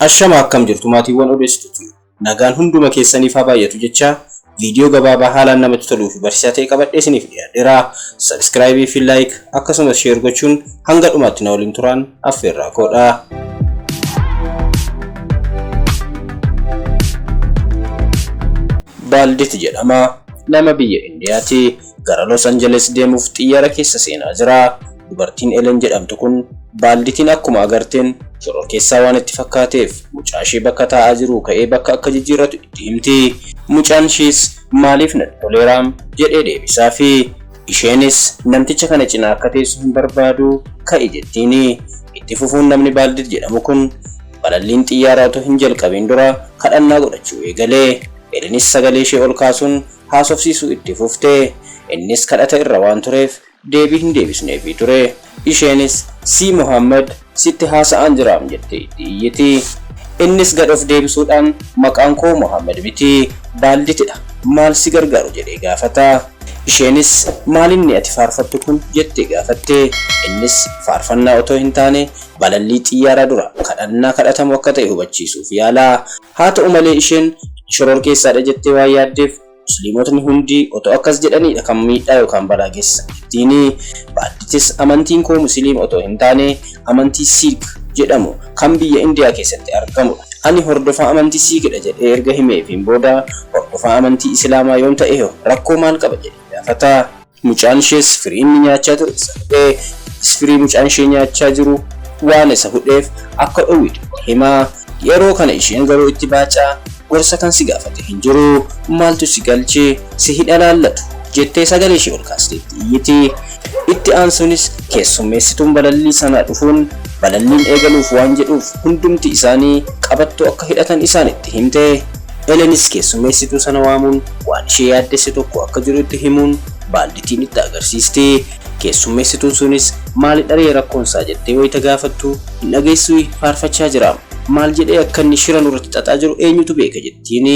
Ashama akkam jirtu maatiiwwan odeessituuti. Nagaan hunduma keessaniif haa baay'atu jecha viidiyoo gabaabaa haalaan namatti toluu fi barsiisaa ta'e qabadhee isiniif dhiyaadheera. Sabiskiraayibii fi laayik akkasumas sheer gochuun hanga dhumaatti na waliin turaan affeerraa koodha. Baalditi jedhama. Nama biyya Indiyaati. Gara Los Angeles deemuuf xiyyara keessa seenaa jira. Dubartiin Elen jedhamtu kun baalditiin akkuma agarteen shororkeessaa waan itti fakkaateef mucaa ishee bakka taa'aa jiruu ka'ee bakka akka jijjiirratu itti himti. Mucaan ishees maaliif natti toleera? jedhee deebisafi. Isheenis namticha kana cinaa akka teessu hin barbaadu ka'i jettiini. Itti fufuun namni Baaldid jedhamu kun balalliin xiyyaaraa utuu hin jalqabiin dura kadhannaa godhachuu eegale. Elinis sagalee ishee ol kaasuun haasofsiisuu itti fufte. Innis kadhata irra waan tureef deebii hin deebisneefii ture. Isheenis, Sii Muhammad, sitti haasa'aan jiraam jettee itti iyyiti. Innis gad of deebisuudhaan, Maqaan koo Muhammad miti, Baalditidha, maal si gargaaru? jedhee gaafata. Isheenis, Maal inni ati faarfattu kun? jettee gaafatte. Innis, Faarfannaa otoo hin taane, balallii xiyyaaraa dura kadhannaa kadhatamu akka ta'e hubachiisuuf yaala. Haata'u malee isheen shororkeessaadha jettee waan yaaddeef Musliimotni hundi otoo akkas jedhaniidha kan miidhaa yookaan balaa geessisan jettiini. Baadditis amantiin koo Musiliima otoo hin taane amantii Siik jedhamu kan biyya Indiyaa keessatti argamudha. Ani hordofaa amantii Siikidha jedhee erga himeefiin booda hordofaa amantii Isilaamaa yoon ta'eehoo rakkoo maal qaba jedhee gaafata. Mucaan ishees firii inni nyaachaa ture isa hudhee, innis firii mucaan ishee nyaachaa jiru waan isa hudheef akka dhowwitu itti hima. Yeroo kana isheen garuu itti baacaa, gorsa kan si gaafate hin jiru, maaltu si galche, si hin ilaallatu, jettee sagalee ishee ol kaastee itti iyyiti. Itti aansuunis keessummeessituun balallii sanaa dhufuun balalliin eegaluuf waan jedhuuf hundumti isaanii qabattoo akka hidhatan isaanitti himte. Elenis keessummeessituu sana waamuun waan ishee yaaddesse tokko akka jiru itti himuun baalditiin itti agarsiisti. Keessummeessituun sunis maalidharee rakkoonsaa jettee wayita gaafattu hin dhageessui faarfachaa jira. Maal jedhee akka inni shira nurratti xaxaa jiru eenyutu beeka jettiin.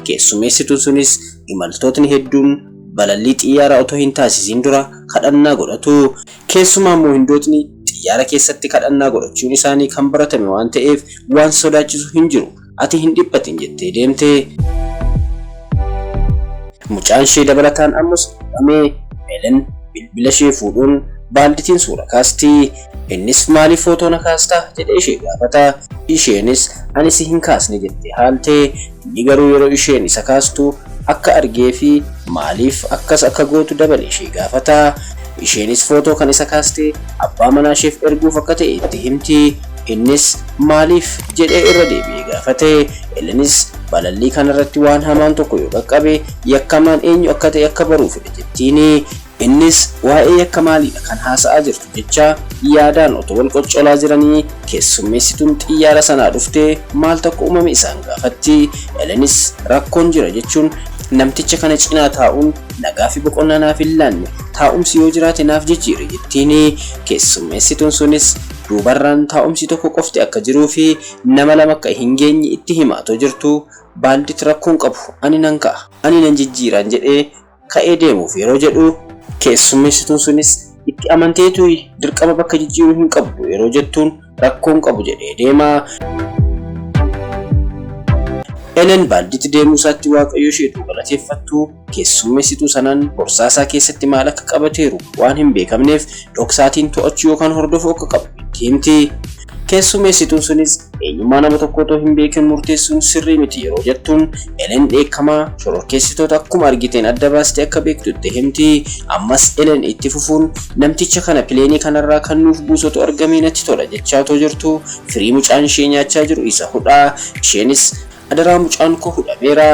Keessummeessituun sunis imaltootni hedduun balallii xiyyaaraa otoo hin taasisiin dura kadhannaa godhatu. Keessumaammoo Hindootni xiyyaara keessatti kadhannaa godhachuun isaanii kan baratame waan ta'eef waan sodaachisu hin jiru. Ati hin dhiphatin jettee deemte. Mucaan ishee dabalataan ammas dhiphamee Helen bilbila ishee fuudhuun baalditiin suura kaasti. Innis maaliif footoo na kaastaa jedhee ishee gaafata. Isheenis ani si hin kaasne jettee haalte. Inni garuu yeroo isheen isa kaastu akka argee fi maaliif akkas akka gootu dabalee ishee gaafata. Isheenis footoo kan isa kaaste abbaa manaa isheef erguuf akka ta'e itti himti. Innis maaliif? jedhee irra deebi'ee gaafate. Elenis balallii kanarratti waan hamaan tokko yoo qaqqabe, yakkamaan eenyu akka ta'e akka baruu fedha jettiini. Innis waa'ee yakka maaliidha kan haasa'aa jirtu jecha yaadaan otoo wal qoccolaa jiranii keessummeessituun xiyyaara sanaa dhuftee maal tokko uumame isaan gaafatti. Elenis rakkoon jira jechuun namticha kana cinaa taa'uun nagaa fi boqonnaa naaf hin laanne, taa'umsi yoo jiraate naaf jijjiiri jettiini. Keessummeessituun sunis Duubarraan taa'umsi tokko qofti akka jiruufi nama lama akka hin geenye itti hima otoo jirtuu, Baaldiit rakkoo hin qabu ani nan ka'a, ani nan jijjiiraan jedhee ka'ee deemuuf yeroo jedhu, keessummeessituun sunis itti amanteetui dirqama bakka jijjiiruu hin qabdu yeroo jettuun rakkoo hin qabu jedhee deema. Elen Baaldiit deemuusaatti Waaqayyo isheetu galateeffattu. keessummeessituu sanaan borsaa isaa keessatti maal akka qabateeru waan hin beekamneef dhoksaatiin to'achuu yookaan hordofuu akka qabu itti himti. Keessummeessituun sunis eenyummaa nama tokkoo otoo hin beekin murteessuun sirrii miti yeroo jettuun Elen dheekkamaa shororkeessitoota akkuma argiteen adda baastee akka beektu itti himti. Ammas Elen itti fufuun namticha kana pileenii kanarraa kan nuuf buusotu argamee natti tola jechaa otoo jirtu firii mucaan ishee nyaachaa jiru isa hudhaa isheenis Adaraa mucaan koo hudhameera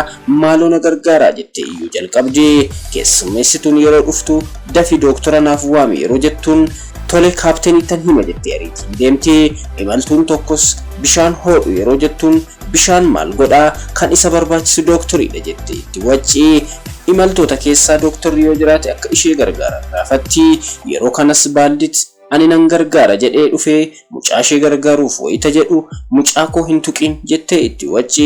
maaloo na gargaaraa jettee iyyuu jalqabde. Keessummeessituun yeroo dhuftu dafii dooktora naaf waami yeroo jettuun tole kaapteniittan hima jettee ariitiin deemti. Imaltuun tokkos bishaan hoodhu yeroo jettuun bishaan maal godha kan isa barbaachisu dooktoriidha jettee itti wacci. Imaltoota keessaa dooktorri yoo jiraate akka ishee gargaaran gaafatti. Yeroo kanas baaldit. Ani nan gargaara jedhee dhufee mucaashee gargaaruuf wayita jedhu mucaa koo hin tuqiin jettee itti wacci.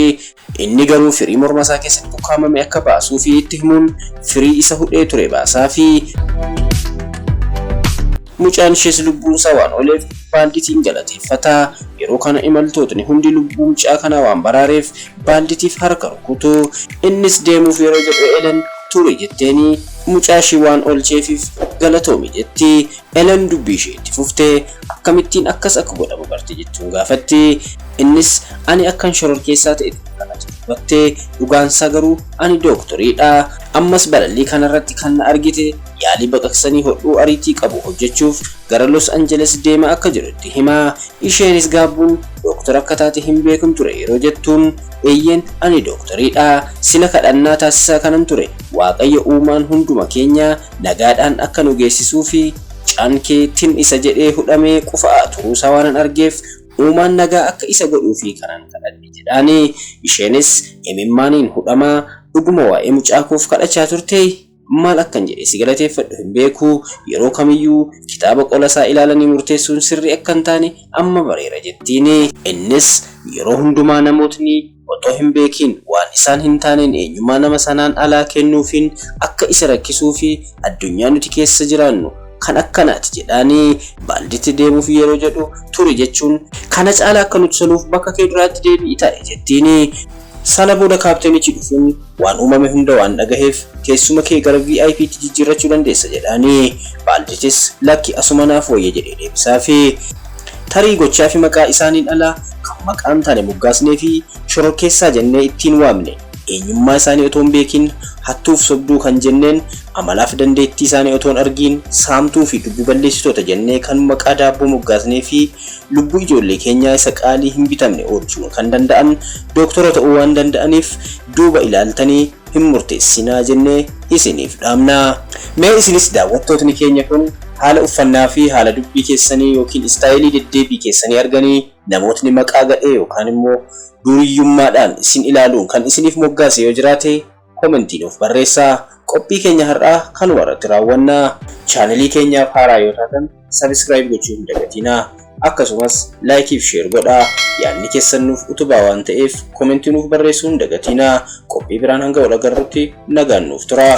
Inni garuu firii mormasaa keessatti ukkaamame akka baasuufii itti himuun firii isa hudhee ture baasaafii. Mucaan ishees lubbuunsaa waan ooleef baalditiin galateeffata. Yeroo kana imaltootni hundi lubbuu mucaa kanaa waan baraareef baalditiif harka rukutu. Innis deemuuf yeroo jedhu Eelen turi jetteeni mucaa ishii waan oolcheefiif galatoomi jetti. Elen dubbii ishee itti fuftee, Akkamittiin akkas akka godhamu barte? jechuun gaafatti. Innis, Ani akkan shororkeessaa ta'e ta'e kana jedhu hubatte, dhugaansaa garuu ani dooktoriidha. Ammas balallii kanarratti kan na argite yaalii baqaqsanii hodhuu ariitii qabu hojjechuuf gara Los Angeles deemaa akka jiru itti hima. Isheenis gaabbuun, Dooktora akka taate hin beekun ture yeroo jettuun, Eeyyeen, ani dooktoriidha. Sila kadhannaa taasisaa kanan ture, Waaqayyo uumaan hunduma keenyaa, nagaadhaan akka nu geessisuufi caan kee tin isa jedhee hudhamee qufa'aa turuusaa waanan argeef uumaan nagaa akka isa godhuufi kanan kadhadhe jedhaani isheenis imimmaaniin hudhamaa dhuguma waa'ee mucaa koof kadhachaa turtee maal akkan jedhee si galateeffadhu hin beeku yeroo kamiyyuu kitaaba qolasaa ilaalanii murteessuun sirrii akka hin taane amma bareera jettiini innis yeroo hundumaa namootni otoo hin beekiin waan isaan hin taaneen eenyummaa nama sanaan alaa kennuufiin akka isa rakkisuu fi addunyaa nuti keessa jiraannu kan akkanaati jedhaanii baaldiitti deemuuf yeroo jedhu turi jechuun kana caalaa akka nuti soluuf bakka kee duraatti deebi'i taa'i jettiini. Sana booda kaapteenichi dhufuun waan uumame hunda waan dhagaheef teessuma kee gara VIPtti jijjiirrachuu dandeessa jedhaanii baaldiitis lakki asuma naaf wayya jedhee deebisaafi. Tarii gochaafi maqaa isaaniin ala kan maqaa hin taane moggaasneefi shororkeessaa jennee ittiin waamne, eenyummaa isaanii otoo hin beekiin hattuuf sobduu kan jenneen, amalaafi dandeettii isaanii otoo hin argiin saamtuufi lubbu balleessitoota jennee kan maqaa daabboo moggaasneefi lubbuu ijoollee keenyaa isa qaalii hin bitamne oolchuu kan danda'an Doktoroota ta'uu waan danda'aniif duuba ilaaltanii hin murteessinaa jennee isiniif dhaamna. Mee isinis daawwattootni keenya kun haala uffannaa fi haala dubbii keessanii ykn istaayilii deddeebii keessanii arganii namootni maqaa gadhee yookaan immoo duuriyyummaadhaan isin ilaaluun kan isiniif moggaase yoo jiraate komentii nuuf barreessaa. Qophii keenya har'aa kanuma irratti raawwanna. Channel keenyaaf haaraa yoo taatan. subscribe gochuu hin dagatinaa. Akkasumas like fi share godhaa. Yaadni keessan nuuf utubaa waan ta'eef komentii nuuf barreessuu hin dagatinaa. Qophii biraan hanga wal agarrutti nagaan nuuf turaa.